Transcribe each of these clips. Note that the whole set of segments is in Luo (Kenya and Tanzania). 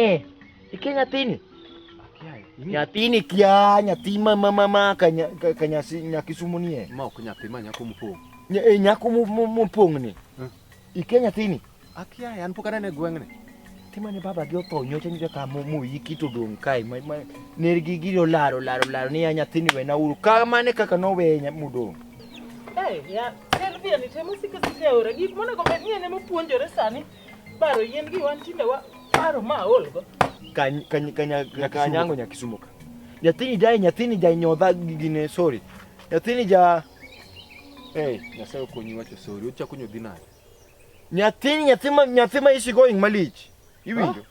Eh, iki nyathini? Nyathini kia, nyathi ma ma ma ma ka nyasi nyaki sumu nie. Ma ok nyathi ma nyako mopong'. Nya, eh, nyako mopong' ni. Hmm. Ikia nyathini? Akia, an pok anene gweng'ni. Tima ne baba gi otho nyocha nyocha ka mo mo yiki to dong kai ma ma ner gi gi laro laro laro ni ya nyathini wena uru. Ka mane kaka no we nya mudong. Eh, ya, Selvia ni temo sikisikia ora. Gik monego bed ni en ema puonjore sani. Baro yien gi wan tinde wa baro ma olgo. Kany kany kanya kanyango nyakisumo ka. Nyathini jai nyathini jai nyodha gine sorry. Nyathini ja Hey, nyasaye okonyi wacho sorry. Uchako nyodhi nade? Nyathini nyathima nyathima is going malich. Iwinjo? Ah?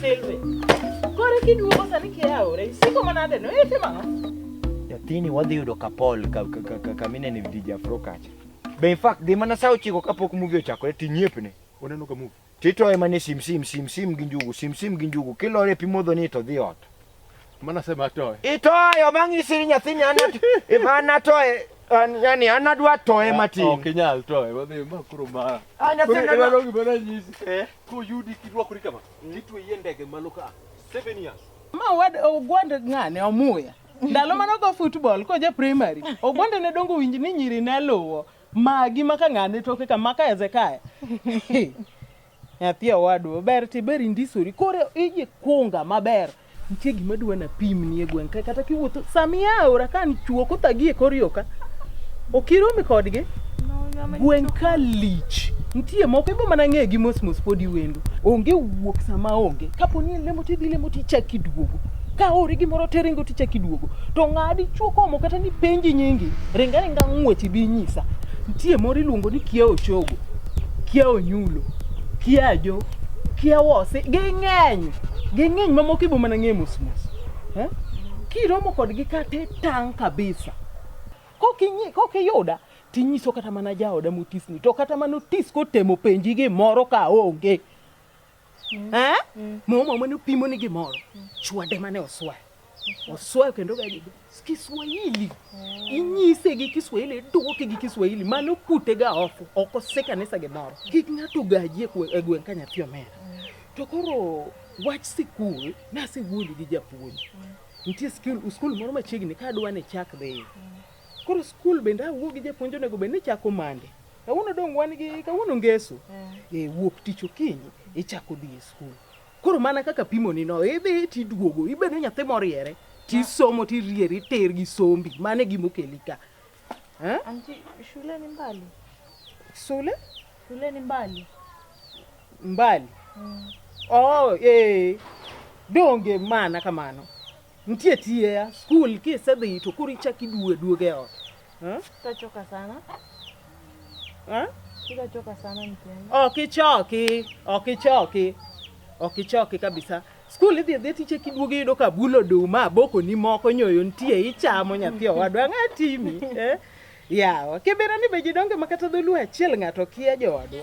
Silvi. Kore kiduogo sani kia aore. Isiko manade no ete mang'o? Nyathini wadhi yudo kapol kamine ni DJ Afro kacha. Be in fact dhi mana saa ochiko kapok movie ochakore tinyepne. Oneno ka movie. To itoye mana e simsim simsim gi njugu simsim gi njugu kilore e pi modho ni to dhi ot. Mana sema atoe. Itoyo mang'isiri nyathini an at- if an atoye an- yani an adwa toye matin. Ok inyal toe, wadhi ma koro ma. Ah, nyathini Koro adwa- iwalogi mana nyisi. Eh. Koyudi kirwakori kama, titweyi e ndege malo ka. Seven years. Ma wad ogwand ng'ane omuya. Ndalo mane ogo football koja primary, ogwanda ne dongo winj ni nyiri ne luwo. Magi maka ng'ane toke ka maka Hezekia. Nyathi owadwa ber ti ber indisori. Koro iji kunga maber. Nitie gima dwa na pim ni e gweng' ka kata kiwuotho samia aora ka ni chuo kothagi e kor yoka. Okiromi kodgi. Gweng' ka lich. Nitie moko ibo mana ng'e gi mos mos podi wendo. Onge wuok sama onge. Kapo ni lemo tidhi lemo tichak iduogo. ka ori gimoro te ringo tichak iduogo to ng'adi chuo komo kata ni penji nyingi ring aringa ng'wech ibi inyisa nitie moro iluongo ni kia ochogo kia onyulo kia ajo kia wose ging'eny ging'eny mamoko ibo mana ng'e mos mos eh? kiromo kodgi kata itang' kabisa kokinyi- kokiyuda tinyiso kata mana jaoda motisni to kata mana otis kotemo penji gimoro ka onge mm. eh? mm. Mama mane opimo ni gimoro mm. chwade mane oswayo mm. oswayo kendo gaji Kiswahili mm. inyise gi Kiswahili duoke gi Kiswahili mane okute ga ofu oko se kanisa gimoro kik ng'ato gaji e, e gweng' ka nyathi omera mm. to koro wach sikul nasewuondi gi japuonj mm. nitie skul moro machiegni ka adwa ni chak dhi mm. koro skul bende awuo gi japuonj onego bed ni chako mande Kawuono dong' wan gi kawuono ngeso. Eh, eh wuok tich okinyi ichako dhi e skul. Koro mana kaka pimo ni no, idhi tiduogo, ibedo nyathi moriere, tisomo tirieri ter gi sombi, mane gima okeli ka. Eh? Anti, shule ni mbali. Shule? Shule ni mbali. Mbali. Mm. Oh, eh. Donge mana kamano. Nitie tiye ya skul kisedhi to koro ichak iduogo aduoga e ot. Eh? Tachoka sana. Eh? Sitachoka sana mtemi. Ok ichoki, ok ichoki. Ok ichoki kabisa. Skul idhi idhi tiche kiduogo iyudo ka bulo oduma, abokoni moko, nyoyo nitie, ichamo nyathi owadwa, ang'a timi. Eh? Yawa, kibera ni be jidonge ma kata dholuo achiel ng'ato kia joodwa.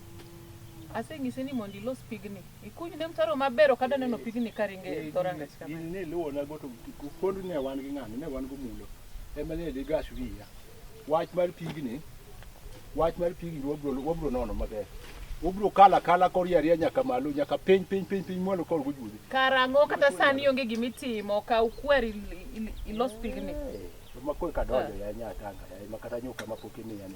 Aseng'ise ni mondo ilos pigni, ikuny ne mtaro maber, ok adwa neno pigni ka ringo e dho rangach kama. In ne luwo na goto kod ne wan gi ng'ano, ne wan gomulo. Ema ne dhi gas wiya. Wach mar pigni, wach mar pigni wabro wabro nono maber. Wabro kala kala kori ariya nyaka malo, nyaka piny piny piny piny mwalo kor gojude. Karang'o kata sani onge gima itimo, kaw kwer il- il- ilos pigni. Makwe kadonjo ya nyatanga, ya makata nyuka mapok imiya ni.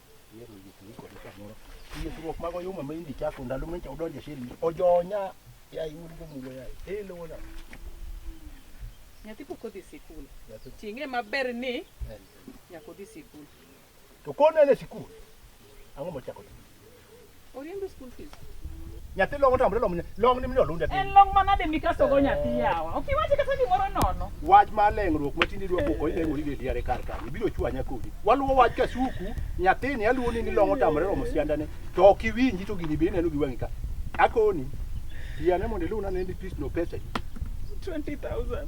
Yisruok mag oyuma ma indi chako ndalo ma nyicha udonje shiri ojonya ya iwuod go mulo ya e lo wona nyathi pok odhi sikul ting'e maber ni nyaka odhi sikul to kone ne sikul ang'o mochako Oriembe school fees. Nyathi long otam long long ni mino lunde En long manade mikaso go nyathi yawa. Ok iwache kata gimoro nono. Wach ma leng'ruok ma tindi dwa koko ile ngori gedi are kar kar. Ibiro chwanya kodi. Waluwo wach ka suku nyathini aluwo ni long otam long sianda ne. To ok iwinji to gini bende neno gi wang'i ka. Akoni. Yane mondo iluna ne ni pis no pesa. 20,000.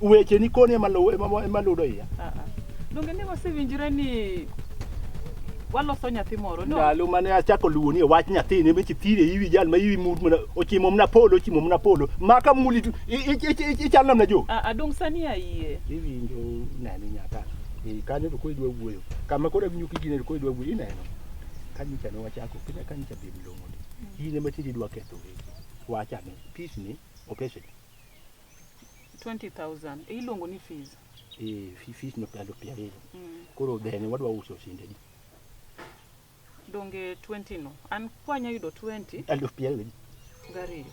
Weche ni koni ema luwo ema ema ludo iya. Ah, ah. Donge ne wasewinjore ni waloso nyathi moro no? Ndalo mane achako luwo ni wach nyathi ne mechi thire iwi jal ma iwi mut mana ochimo mna polo ochimo mna polo. Maka muli tu i- i- i- i- ichal namna jo. Ah, ah, dong sani ayie. Iwinjo nani nyaka. E kanyo to koi dwa wuoyo. Kama kora winyo kijine to koi dwa wuoyo ineno. Kanyo cha ne wachako kina kanyo cha bim longo. Ine matindi dwa ketho. Wacha ne peace ni opeshe. 20000 e iluongo ni fees eh fees no pia do pia rero mm. koro then wadwa uso sinde di donge 20 no an kwanya yudo 20 aluf pia rero gari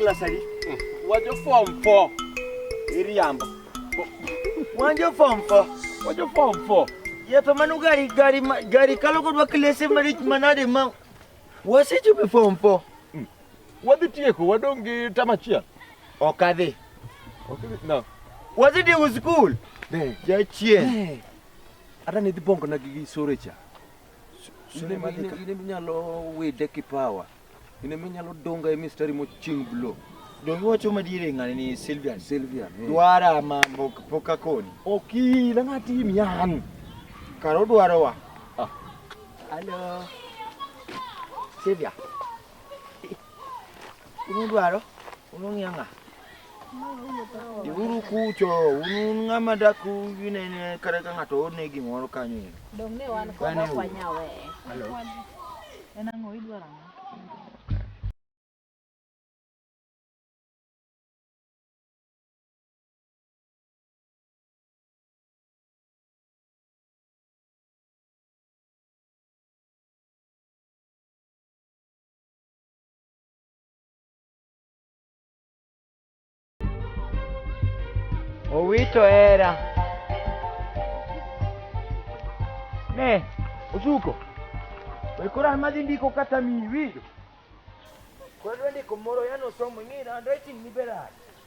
klasari wajo form 4 iriambo wajo form 4 wajo form 4 yeto manu gari gari gari kalo kodwa klese marich manade ma Wasechopo e form 4. Hmm. Wadhi tieko, wadong' gi tam achiel. Ok adhi. Ok adhi. No. Wadhi tieko skul. Ne. Jachien. Ne. Ata ne dhi bongo na gi sore cha. Sore ma dhi ka. Ine minyalo wede kipawa. Ine minyalo donga e mistari mo ching blow. Dongi wacho madiere ng'ani ni Sylvian. Sylvian. Eh. Dwara ma poka koni. Oki, na ng'ati miyan. Karo dwarowa. Alo. Sylvia. Unudwaro? Unung'yang'a? Iuru kucho, un ng'ama dak unene kata ka ng'ato orne gimoro kanyo ero. Dong' ne wan kod ok wanyawe. Alo. En ang'o idwaro ang'o? Owito era. Ne, Osuko. Wekora madhi ndiko kata miwi. Kwa ndio ndiko moro yano somo ng'ira ndo itin ni berani.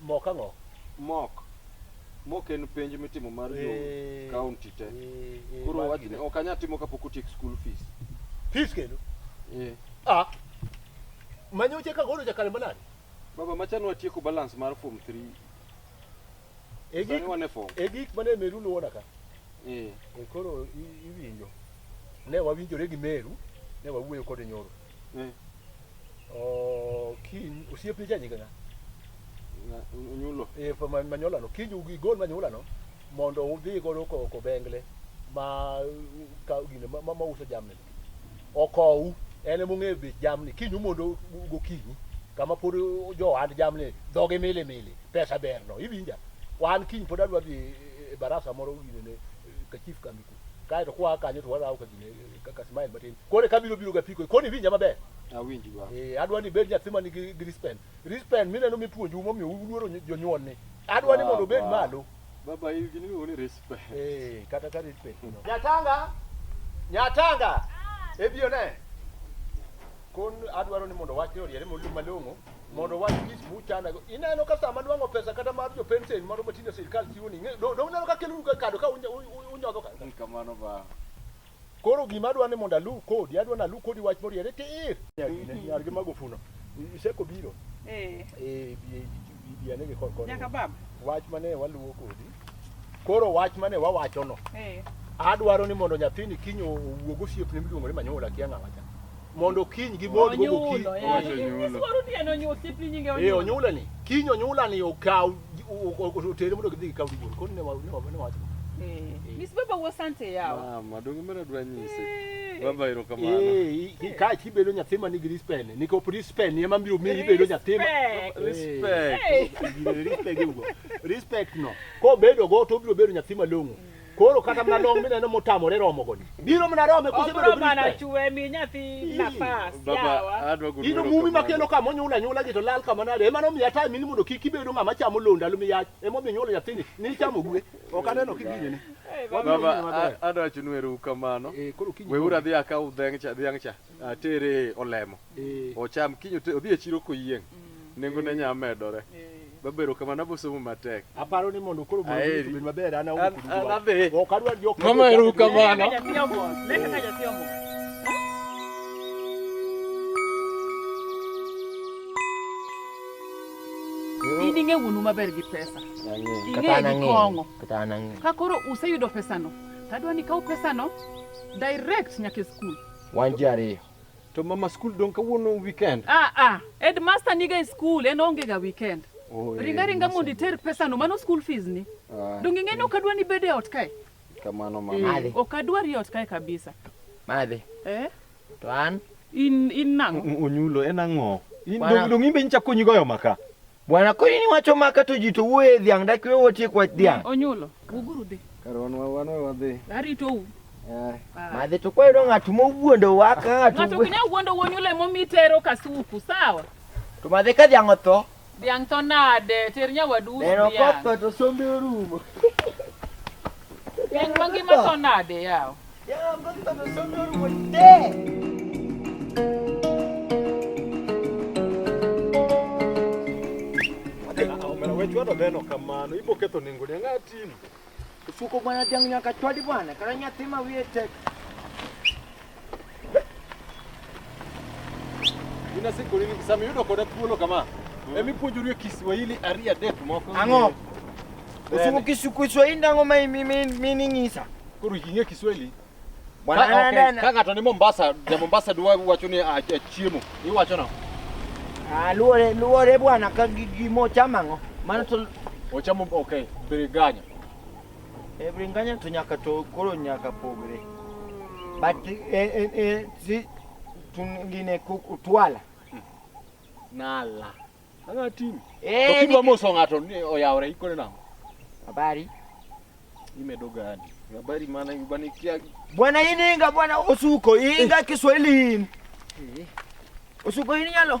Mok ang'o? Mok. Mok en penj mitimo mar jo eh, county te. Eh, eh, Koro wach ni ok anyal timo kapok otiek school fees. Fees kendo? Eh. Ah. Manyo cheka godo jakale manani? Baba machano ne watieko balance mar form 3. E gik wane form. E gik mane Meru luwona ka. Eh. E koro iwinjo. Ne wawinjore gi Meru, ne wawuoyo kode nyoro. Eh. Oh, kiny osiep ni janyiga nya. Onyulo. Eh, manyolano. Kiny ugigol manyolano mondo udhi godo ko ko bengle ma ka gine ma, ma uso jamni. Okowu en mong'e bech jamni. Kiny mondo gokinyi kama pod jo hand jamni dhoge mili mili pesa berno iwinja. Wan kiny pod adwa dhi e barasa moro gine ne ka chief kambi ku. Kae to kwa kanyo to warawo ka gine Kaka smile matin. Kore kabiro biro gapiko. Koni winja maber. Awinji ba. Eh, adwa ni bed nyathi man gi Grispen. Grispen mineno mipuonju momiyo uluoro jonyuol ni. Adwa ni mondo bed malo. Baba in gini miluongo ni Grispen. Eh, kata ka Grispen. Nyatanga. Nyatanga. Ah. Ebio ne. Kon adwaro ni mondo wachni oriere malong'o mondo wach gis muchana go ineno ka sama nwango pesa kata mar jo pension moro matindo sirkal chiwo ni do do neno ka kelu ka kado ka unyodo ka kamano ba Koro gima adwa ni mondo aluw kodi, adwa ni aluw kodi wach moriere tir. Nyargi mago funo. Iseko biro. Eh. Eh, bi ane gi kor kor. Nyaka bab. Wach mane waluwo kodi. Koro wach mane wawachono. Eh. Adwaro ni mondo nyathini kinyo owuog osiepne miluongo ni Manyola kia ng'awa cha. mondo kiny gibod go gokinyi. Eh, onyula ni kiny onyula ni okaw otere mondo gidhi gikaw gibon koni ne wacho Miss Baba wo sante yawa. Mama, donge mara dwa nyise. Eh. Baba ero kamano. Eh, eh. ka chi bedo nyathi ma nigi respect, ni ko respect ni ema biro miyi bedo nyathi ma eh. respect. Respect. Respect no. Ko bedo go to biro bedo nyathi malong'o. Mm. Koro kata mna long mineno motamore romo goni. Biro mna rome kose bedo brita. Mana chwe mi nyathi nafas. Baba adwa gudu. Ino mumi makelo kama nyula nyula gi to lal kama nade. Ema no miya time ni mondo kik ibedo ng'ama chamo londo alu miya. Ema mi nyula nyathini ni chamo gwe. Ok aneno kiginye ne. Baba adwa chunweru kamano. Eh, Weura dhi akaw dheng' cha dhiang' cha atere olemo. eh. ocham kiny odhi e chiro koyieng' mm. nengo ne nya medore babero eh. kamano abosomo matek aparo ni mondo koro bed maber an aonadhi ok adwa jok mama eru kamano in ing'e wuonu maber gi pesa ing'e gi kong'o ka koro useyudo pesano tadwa ni kaw pesano direct nyaka e skul wan ji ariyo To mama skul dong kawuono weekend. Ah ah, headmaster niga e skul en onge ga weekend. Oh, ringa eh, ringa mondo iter pesa no mano school fees ni. Ah, Donge ng'eni ok adwa ni bede ot kae. Kamano mama. Eh, Madhi. Ok adwa ri ot kae kabisa. Madhi. Eh? To an in in nang. Onyulo en ang'o? Dong dong imbe nchakonyi goyo maka. Bwana koni ni wacho maka to ji to wuoye e dhiang' dak wewe watiek wach dhiang'. Onyulo. Uguru dhi. Karwan wa wan wa dhi. Arito u. Eh. Madhi to kwayo ng'at mowuondo wa ka ng'at. Ng'at ok ne wuondo wonyulo emo mitero kasuku sawa. To madhi ka dhiang' otho. Dhiang' to nade ter nyawadu. Neno kotho to sombe orumo. Dhiang' mangima to nade yawa. chwado beno kamano ibo ketho nengo ne ng'a timo suko bwana jang nyaka chwadi bwana kara nyathi ma wiye tek Ina siku nini kisami yudo koda thuolo kama. Mm. Emi puonjori e Kiswahili ari adek moko. Ang'o? Usuku Kiswahili ndang'o ma mini ng'isa? Koro ing'e Kiswahili? Bwana ka, okay. Ka ng'ato ni Mombasa, ja Mombasa dwa wacho ni achiemo. Ah, Iwacho no. Ah, luore luore bwana ka gimo chama ng'o. Mano to ochamo okay, biriganya. E bringanya to nyaka to koro nyaka pogre. But e e e si tungine kutwala. Nala. Anga tim. Eh. Okiba moso ngato ni oyawre ikone nango. Habari. Imedo gani? Habari maana yubani kia. Bwana hii inga bwana usuko inga eh. Kiswahili. Eh. Usuko hii nyalo.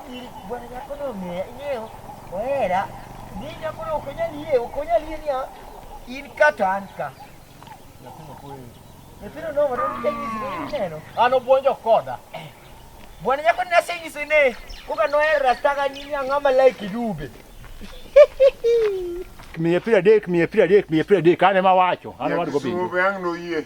ili bwana yako no me ineo wera nini hapo na ukonya nie ukonya nie ni in kata anka nasema kweli epiro no wara ni kenyi zini neno ano bonjo koda bwana yako na senyi sene kuka no era staga nini angama like dube kmiepira dek kmiepira dek kmiepira dek ane mawacho ane wadgo bi yangu no yie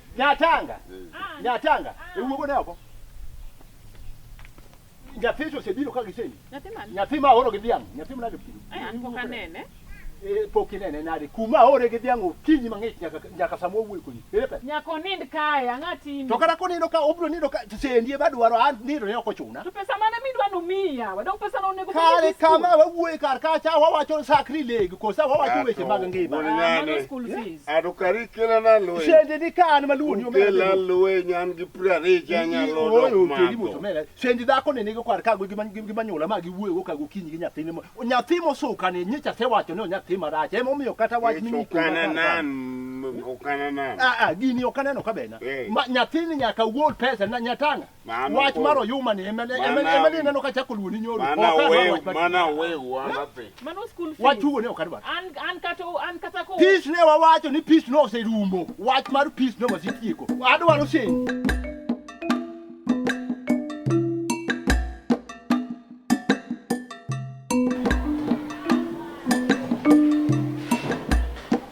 Nyatanga. Nyatanga. Ewu go nabo. Nyapicho sebiro ka giseni. Nyathima. Nyathima oro gi dhiang'. Nyathima nade piro. Eh, an pok anene. Eh, pok inene nade. Kuma ore gi dhiang' okinyi mang'ich nyaka nyaka samo wuoyo kodi. Ere pe. Nyako nind kae ang'a timi. To kata konindo ka obro nindo ka sendi ema dwaro an nindo ne ok ochuna. To pesa mane midwa no miya. Wadok pesa no onego. Kare kama wawuoyo kar ka cha wawacho sakri legi kosa wawacho weche mag ngima. Mano school fees. Adukari kela na loe. Shende ni ka an maluwo ni omera. Kela loe nyan gi prare cha nyalo dok ma. Oyo kedi moto mera. Shende dhako ne nigo kwar kago gi man gi manyola ma gi wuoyo kago kinyi gi nyathine mo. Nyathi mo suka ne nyicha se wacho ni nyathi marach. Emo miyo kata wach ni okana nan okana nan. Ah ah gini okana no kabena. Eh. Ma nyathini nyaka wuol pesa na nyatanga. wach mar oyuma ni ema ni neno ka chako luoni nyoro mana wew mana wew wanathi mano school fees wach ugo ne ok adwar an an kata an kata ko peace ne wawacho ni peace no oserumo wach mar peace no wasitieko adwaro send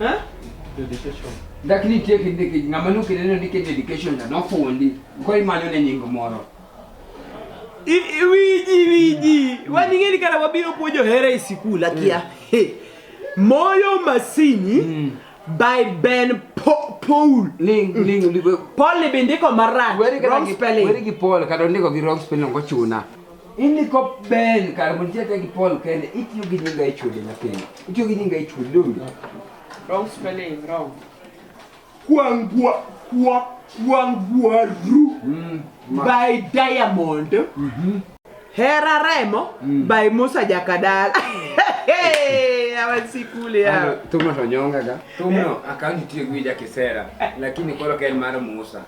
Eh? Dedication. Dak nitie kinde kinde ng'ama nuke neno ni ke dedication na nofundi. Ko imanyo ne nying moro. Wiji wiji. Wani ngeni kana wabiro puonjo hera e sikul akia. Mm. Moyo masini. Mm. by Ben po Paul. Ling mm. ling ling. Paul ni bindiko marach. Where is Paul? Kado ndiko gi wrong spelling ko chuna. Ini ko ben kar mo nitie gi Paul kende itiyo gi nyinga e chode na kende. Itiyo gi nyinga e chode dong. Wrong spelling, wrong. Kwangwa kwa kwangwa ru mm, by diamond. Mm -hmm. Hera Remo mm. by Musa Jakadala. awasikule hao. Tumo tonyonga ga. Tumo eh. akaunti tiyo gwija kisera lakini koro kel mar Musa.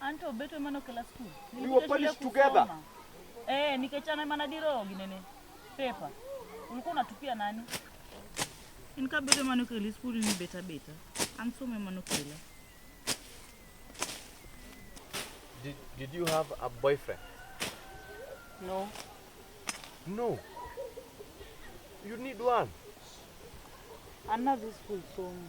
Anto beto emane okela skul. We were punished together. Eh, nikechana emana diro ginene. Pepa. Ulikuwa unatupia nani? Inka beto emane okela skul ni beta beta. An somo emane okela. Did, did you have a boyfriend? No. No. You need one. Another school somo.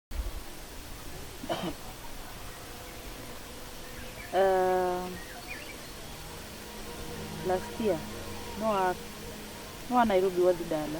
Uh, last year no a no a Nairobi wadhi dala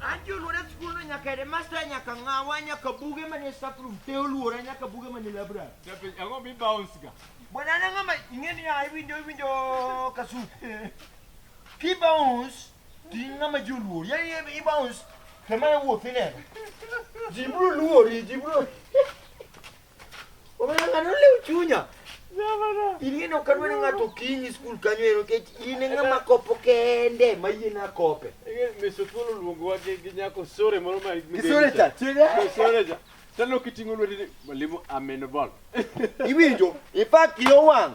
Anti oluora e skul no nyaka headmaster nyaka ng'awa nyaka buge manie staff room te oluora nyaka buge manie library. Japenj ang'o mi bounce ga? Bwana na ng'ama ing'e ni ya iwinjo iwinjo kasu. Ki bounce ti ng'ama ji oluor. Ya i bounce kama wuoth ineno. Ji bro luori, ji bro. Omanyang'ano ole uchunya. Ing'eni ok adwa ni ng'ato okinyi skul kanyo ero nikech in e ng'ama kopo kende ma yie nakope. Misukul oluongowa gi gi nyako sore moro ma Kisore cha, tiende. Sore cha. Tano kiting'o lweti ni mwalimu amenobol. Iwinjo? In fact yo wang'.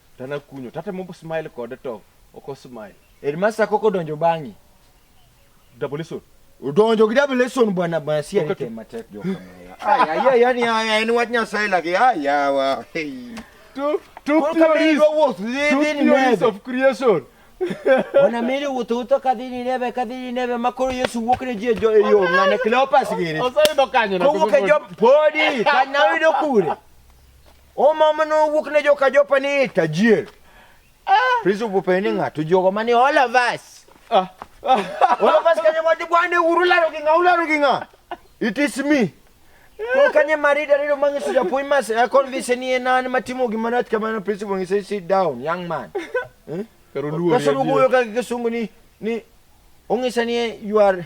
To nakunyo, tatemo smile kode to ok osmile. Headmaster koko donjo bang'i. Double lesson. Udonjo gi double lesson bwana bwana si alite matek jo kamera. Aya ya yani aya en wach nyasaye lagi aya wa. Hey. Two two theories. Two theories of creation. Ona miri wuto wuto kadhini neve kadhini neve makoro Yesu wuok ne jie jo eyo ngane Cleopas giri. Osayudo kanyo na. Kowuok e jo podi kanawudo kure. Oma mane owuok ne joka jopa ni tajier. Ah. Prince obupe ni ng'ato jogo mani all of us. Ah. Ah. All of us kanye mwadi bwane uru laro gi ng'a, ularo gi ng'a. It is me. Kwa kanye marida rilo mangi suja pui mas, ya convince ni ena ni matimu gimanat kama na Prince Obupe say sit down, young man. Hmm? Pero luo ni. Kaso luo yoka kisungu ni, ni, ungisa ni you are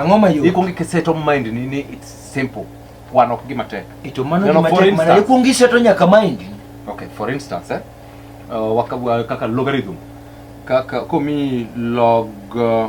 Angoma yo. Ikwongi kiseto mind ni ni it's simple. Wan ok gima tek. Ito mano gima tek mana ikwongi seto nyaka mind. Okay, for instance, eh? Uh, waka, kaka logarithm. Kaka komi log uh,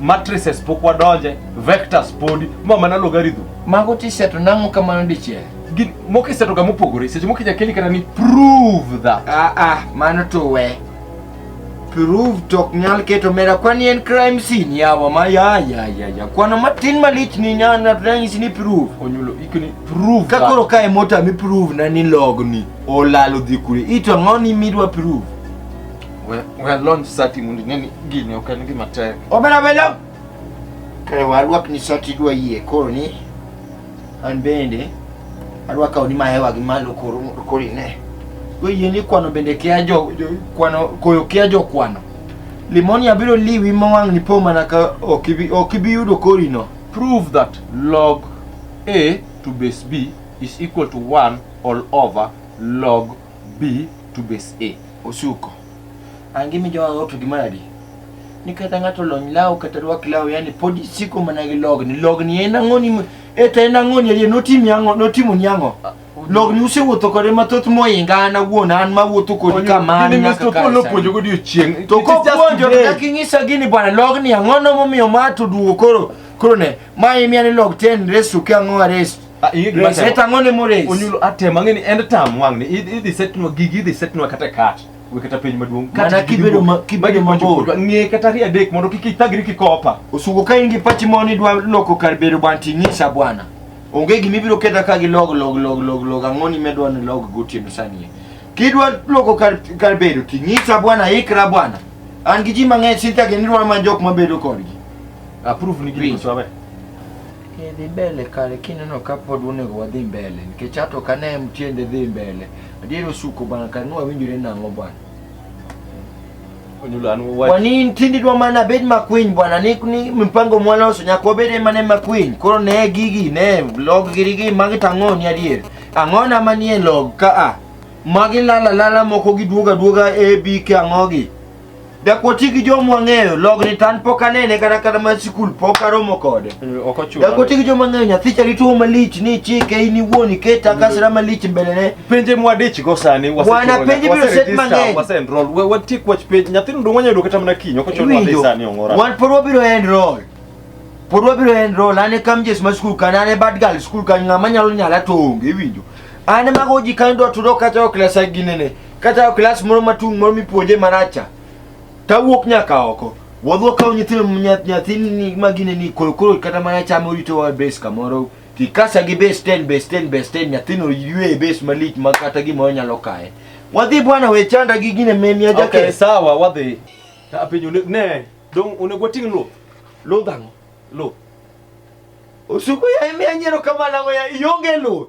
matrices pok wadonje vectors podi ma mana logarithm mago tiseto nang'o kamano dichiel Gin- moko isetoga mopogore seche moko inya keli kata ni prove that ah ah mano to we prove to ok nyal keto mera kwani en crime scene yawa ma ya ya ya ya kwano matin malich ni nyana tunanyisi ni prove onyulo ikoni prove ka that. koro ka e mota mi prove na ni logni olalo dhi kure ito ang'o ni midwa prove We we launch sati mundi neni gini ok en gima tek. Obera belo. Kare warwak ni sati dwa yie koro ni an bende arwaka oni mahewa gi malo koro koro ine. Go yie ni kwano bende kia jo, jo kwano koyo kia jo kwano. Limoni abiro liwi mawang' ni po mana ka ok ibi ok ibi yudo kori no. Prove that log A to base B is equal to 1 all over log B to base A. Osuko. Angimi joma ng'oto gi manadi. Ni kata ng'ato lony law kata rwak law yani pod isiko mana gi logni. Logni en ang'o ni e to en ang'o ni ariyo notimi ang'o notimo ni ang'o. Ah, logni usewuotho kode mathoth moinga an awuon an ma wuotho kodi kamano nyaka ka polo puonjo go odiechieng' to ko puonjo kaka ing'isa gini bwana logni ang'o no momiyo ma to duogo koro koro ne ma imiya ni log ten resu ke ang'o aresu Ah, iyi gima Reset temo. ang'o ni mores? Onyulo atemo ang'e ni end term wang' ni idhi idhi setnwa gigi idhi setnwa kata kat. We kata piny maduong'. Kat Mana gigi kibedo dugo. ma- kibedo Magi mabor. mondo kodwa. Ng'e kata ariyo adek mondo kik ithagri kikopa. Osugo ka in gi pachi ma ni dwa loko kar bedo bwana ting'isa bwana. Onge gima ibiro keta ka gi log log log log log ang'o ni medwa ni log gotieno sani. Kidwa loko kar kar bedo ting'isa bwana ikra bwana. An gi ji mang'eny sinta gini dwa ma jok mabedo kodgi. Approve ni gini Winjo. mswabe. Idhi mbele kare kineno ka pod onego wadhi mbele nikech ato ok ane tiende dhi mbele. Adier osuko bana kare ni wawinjore nang'o bwana. Onyulo an wach. Wani ntindi dwa mana bed makwiny bwana ni, ni mpango mwaloso nyaka wabed ema ne makwiny. Koro ne gigi ne log giri gi magi tang'o ni adier. Ang'ona manie log ka a. Magi lala lala moko giduoga duoga A B K ang'ogi. Dakoti gi joma wang'eyo logni tan pok anene kata kata ma sikul pok aromo kode. Eh, ok ochuno. Dakoti gi joma wang'eyo nyathi chali tuo malich ni chike in iwuon iketa kasra malich mbelene. Penje mwadich go sani wase. Wana penje biro set mang'eny. Wase enroll. We watie kwach penje nyathi ndo wanya yudo kata mana kiny ok ochuno ni sani ongora. Wan pod wabiro enroll. Pod wabiro enroll ane kam jes ma skul kan ane bad girl skul kan ng'ama nyalo nyala to onge iwinjo. Ane mago ji kan do tudo kata ok lesa ginene. Kata klas moro matung' moro mipuonje maracha, tawuok nyaka oko. Wadhi wakawo nyithindo nya- nyathini ma gine ni koro koro kata mana chame orito wa base kamoro kikasa gi base 10 base 10 base 10 nyathino ywe e base malich ma kata gimoro nyalo kaye. Wadhi bwana we chanda gi gine memia Okay, jaket. sawa wadhi. Ta piny one- ne, dong onego wating' luth. Lodhango. Luth. Osuku ya ime anyero kamana ngoya ionge luth.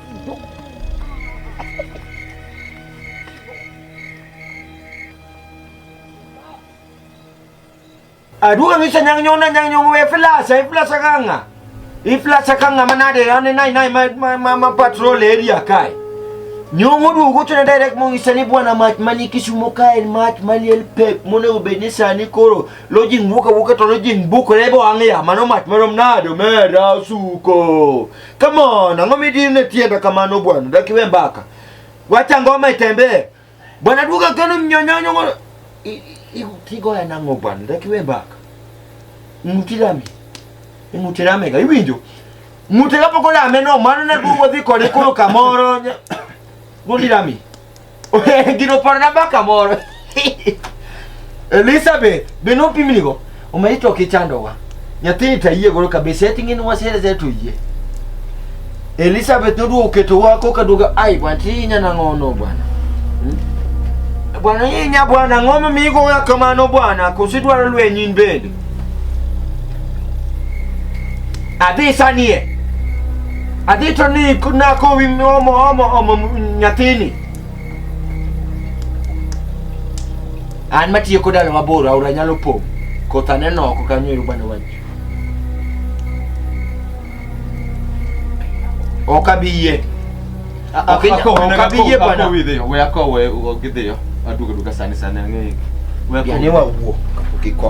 Aduh, ang isa niyang nyona niyang nyong we flasa, e flasa ka nga. E flasa ka nga manade, ane nai nai ma ma ma, ma patrol area kai. Nyong udu ko tuna direct mong isa ni buwan na mat mani kisumo kai mat mali el pep mo na ubeni sa ni koro. Lojing buka buka to lojing buka lebo ang ya mano mat mano mnado mera suko. Come on, ang'o midine tienda kamano bwana? Dak iwe mbaka. Wacha ngoma itembee. Bwana duka kano mnyonyonyo ngono. Igo ya nango bwana, dak iwe mbaka. Mutirami. Mutirami ga iwinjo. Mutira poko la meno mano na duwo dhi kode koro kamoro. Mutirami. Gino paro na baka moro. Elizabeth, be no pimni go. Umeito kichandowa. Nyathini tayie goro kabisa eti ng'in wasere zetu yie. Elizabeth noduogo keto wako kaduogo ai bwana ti nyana ngono bwana. Hmm? Bwana yinya bwana ng'oma migo kamano bwana kosidwaro lwenyin bende. Adhi sanie. Adhi to ni na kowi omo omo omo nyathini. An matiyo kod dala mabor aora nyalo pong'. Koth aneno oko kanyo ero bana wach. Ok abi yie. Ok inya- ok abi yie bwana. we akowe ogidhiyo aduogo duka sani sani ang'eyo We akowe. Biane wawuo kapok iko.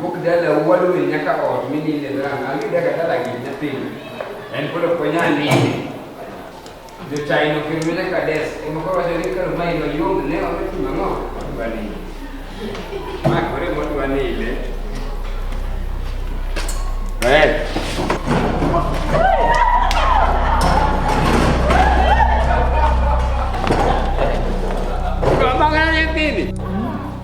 Wuok dala wuod wil nyaka ot mininde dala angi daga dala gi nyathini. En kolo konya nini. Jo China kirmi na kades e mo ko wajo ni kar mai no yom ne o ti mango bani. Ma kore mo tu ani ile. Right. Kau makan yang ini.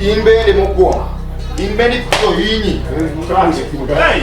In bende mokwongo. In bende ikuyo hinyi. Hey!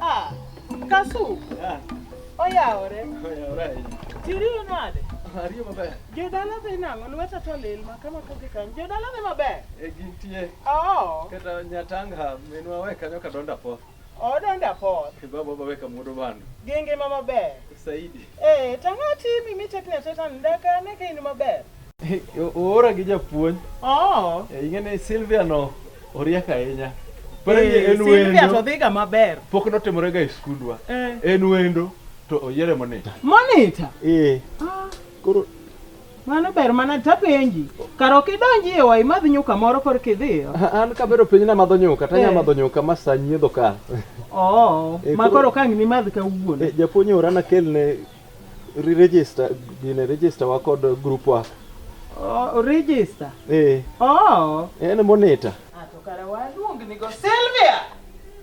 Ah, Kasu. Ah. Oyawore. Oyawore. Tiriyo nade? Ariyo maber. Jodala dhi nang'o? Lweta to lil ma kama kodhi kanyo. Jodala dhi maber? E gintie. Oo. Kata Nyatanga minwa we kanyo kadonda po. Odonda Paul. Baba waweka mudo bando. Gi ngima maber. Saidi. Eh, tang'o timi mitekni ateta ndaka ne kain maber. Oora gi japuonj. Oh. Eh, ing'eni Sylvia no oriek ahinya. Pare eh, en wendo. Sylvia to dhiga maber. Pok notimore ga e skundwa. Eh. En wendo to oyiere monita. Monita? Eh. Ah. Koro Mano ber mana tapenji. Kar ok idonji e wai madh nyuka moro kor kidhiyo. An kabero piny na madho nyuka, to anya eh. madho nyuka ma sa nyiedho ka. Oh, eh, ma koro kang ni madh ka wuon. Eh, japuonj ora na kelne register, gine register wa kod group wa. Oh, register. Eh. Oh. En monitor. Ah, to kara waluong ni go Sylvia.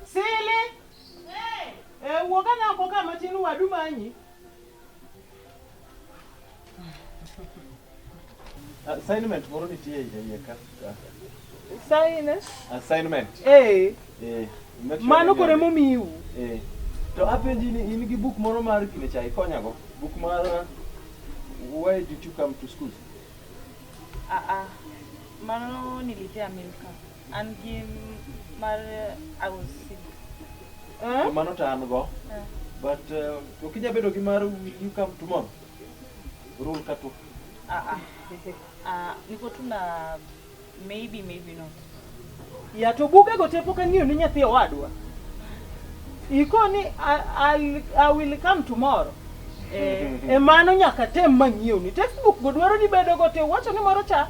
Sili. Eh. Eh, wuoga na ko kama tin wadu manyi. Assignment moro nitie iye ka. Assignment? Assignment. Eh. Eh. Mano kore momiu. Eh. To apenji ni in gi buk moro mar kine chai konyago. Buk mar Why did you come to school? Ah ah. Mano nilipia milka. An gi mar ausi. Eh? Mano to an go. Eh. But uh, ok inya bedo gi mar you come tomorrow. Rule ka tu. Ah ah. Ah, niko tu na maybe maybe not. Ya to buga go tepo kan ni nyathi owadwa. Iko ni I, I, I will come tomorrow. Eh, e mano nyaka tem mang'iew ni textbook go dwaro ni bedo go te wacho ni moro cha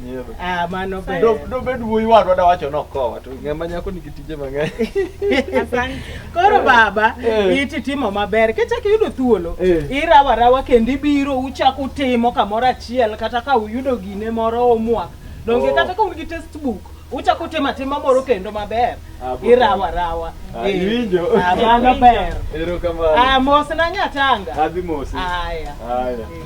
Ah, mano ber. Do do bed wuoyi wadwa da wacho nokowa to ng'ama nyako nigi tije mang'eny. Asante. Koro baba, Eh. iti timo maber. Kichak iyudo thuolo, Eh. irawa rawa kendo ibiro uchak utimo kamoro achiel kata ka uyudo gine moro homework. Donge Oh. kata ka un gi textbook, uchak utimo atima moro kendo maber. Ah, bo- Irawa rawa. Ah, Eh. iwinjo. Ah, mano ber. Erokamano. Ah, mos na nyatanga. Adhi mosi. Aya. Haya. Eh.